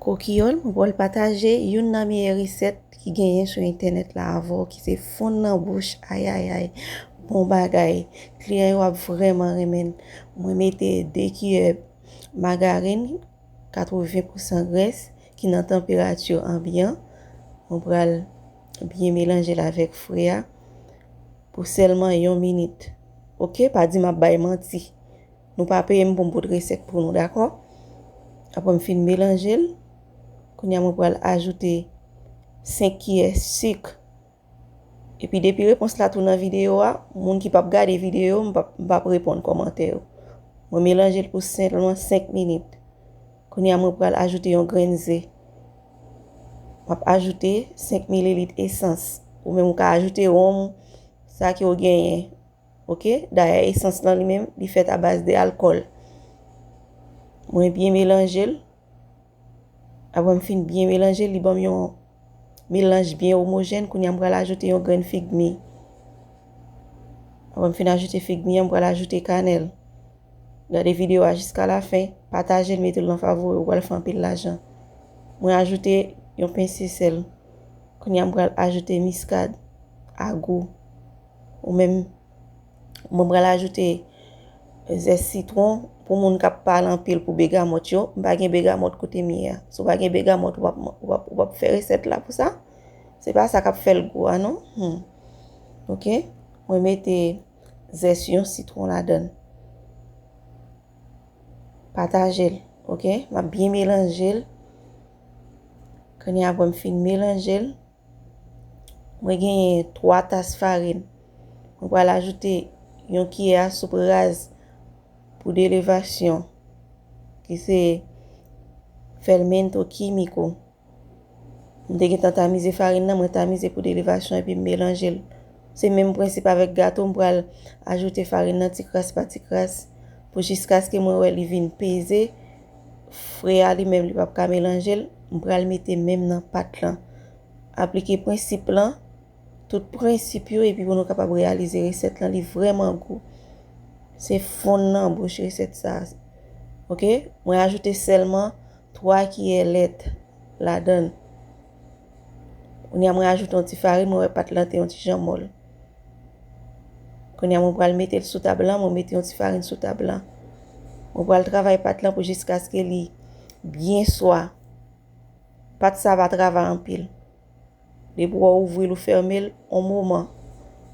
Kokiyòl, Mwen pral pataje youn nan meyè resèt ki genyen sou entènèt la avè w ki se fonn nan bouch ayayay bon bagay kliyan yo ap vrèman renmen l mwen mete 2 kiyè magarin 80 pousan grès ki nan tanperati anbyan mwen pral byen melanje l avèk fri a pou sèlman yon minit ok pa di m ap bay manti. Nou pa peye m pou m pot resèt pou nou dakò. Aprè m fin melanje l, kounya mwen pral ajoute 5 kiyè sik. Epi depi repons la tou nan videyo a, moun ki pap gade videyo m pap m pap reponn kòmantè yo. Mwen melanje l pou senpleman 5 minit. Kounya mwen pral ajoute yon grenn ze. M ap ajoute 5 mililit esans. Ou menm ou ka ajoute ronm, sa ke ou genyen. Ok dayè esans lan li menm li fèt a baz de alkòl mwen byen melanjel apre m fin byen melanjel li banm yon melanj byen omojèn kounye a m pral ajoute yon grenn fig mi apre m fin ajoute fig mi an m pral ajoute kanèl gade videyo a jiska la fen patajel metel nan favori ou pral fè anpil lajan mwen ajoute yon pense sèl kounye a m pral ajoute miskad a gou. Ou menm mwen pral ajoute zès sitwon pou moun kap pale anpil pou begamot yo. M pa gen begamot kote m ye a. Si w pa gen begamot ou pap fè resèt la pou sa. Se pa sa kap fèl gou a non. Ok. Mwen mete zès yon sitwon ladan. Pataje l. Ok. Map byen melanje l. Kounye a apre m fin melanje l. Mwen genyen 3 tas farin. Mwen pral ajoute yon kiyè a soup raz pou delevasyon ki se fermento químico. Mwen te gentan tamize farin nan, mwen tamize pou delevasyon epi m melanje l. Se menm prensip avèk gato, m pral ajoute farin nan ti kras pa ti kras pou jiskaske mwen wè li vin peze Fre a li menm li pap ka melanje l, m pral mete men m nan pat lan. Aplike prensip lan, tout prensip yo epi pou nou kapab reyalize resèt lan li vrèman gou. Se fon nan bouch resèt sa. Ok, mwen ajoute sèlman 3 kiyè lèt ladan l. Kounye a mwen ajoute yon ti farin, mwen wè pat lan te yon ti jan mòl. Kounye a mwen pral mete l sou tab lan, mwen mete yon ti farin sou tab lan. Mwen pral travay pat lan pou jiskaske li byen swa. Pat sa va travay anpil. Depi wè ou ouvri l ou fèmen l, yon moman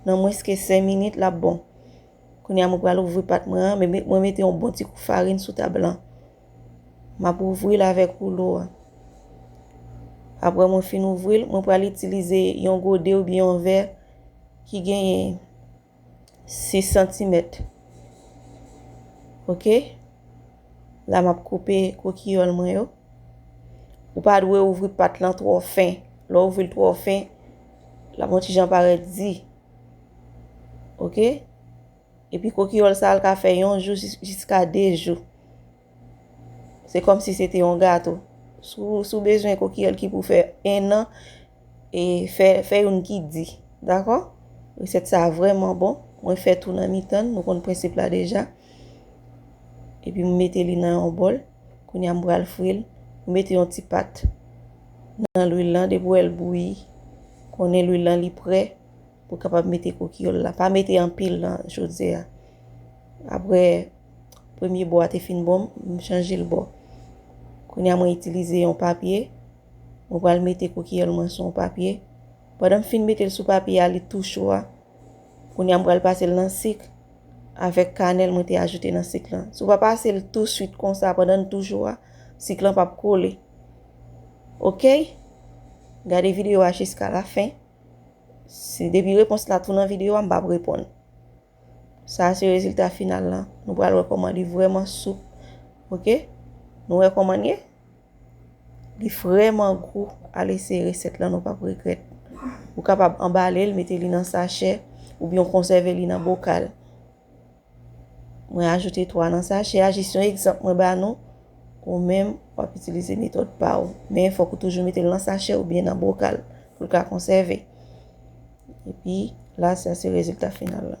nan mwens ke 5 minit lap bon. Kounye a mwen pral ouvri pat mwen an, mwen mete yon bon ti kou farin sou tab lan. M ap ouvri l avèk woulo a. Apre mwen fin ouvri l, mwen pral itilize yon gode oubyen yon vè ki genyen 6 santimèt. Ok? La m ap koupe kokiyòl mwen yo. Ou pa dwe ouvri pat lan twò fen. Lè w ouvri l twò fen, l ap yon ti jan parèt di. Ok? Epi kokiyòl sa l ka fè yon jou jiska 2 jou. Se kòm si se te yon gato. Si w bezwen kokiyòl ki pou fè 1 an, e fè youn ki di. Dakò? Resèt sa a vrèman bon. Mwen fè tou nan mitan l. Nou konn prensip la deja. Epi m mete li nan yon bòl. Kounye a m pral fri l. M mete yon ti pat nan lwil lan. Depi w wè l bouyi, konnen lwil lan li pre. pou kapab mete kokiyol la pa mete anpil nan jodze a apre premye bò a te fin bon m chanje l bò kounye a mwen itilize yon papye mwen pral mete kokiyol mwen sou yon papye pandan m fin mete l sou papye a li tou cho a kounye a m pral pase l nan sik avèk kanèl mwen te ajoute nan sik lan sou pa pase l tou swit konsa pandan l tou cho a sik lan pap kole ok gade videyo a jiska la fen Si depi repons la tou nan video a m pap reponn. Sa a se rezilta final lan. Nou pral wè kòman li vrèman soup. Ok? Nou wè kòman l ye? Li vrèman gou. Al eseye resèt lan nou pap regrèt. Ou kapab anbale l, mete li nan sachè, oubyen w konsève li nan bokal. Mwen ajoute 3 nan sachè a, jis yon egzanp mwen ba nou, ou menm wap itilize metòd pa ou. Men fòk ou toujou mete l nan sachè oubyen nan bokal pou l ka konsève. Epi la sa se rezilta final la.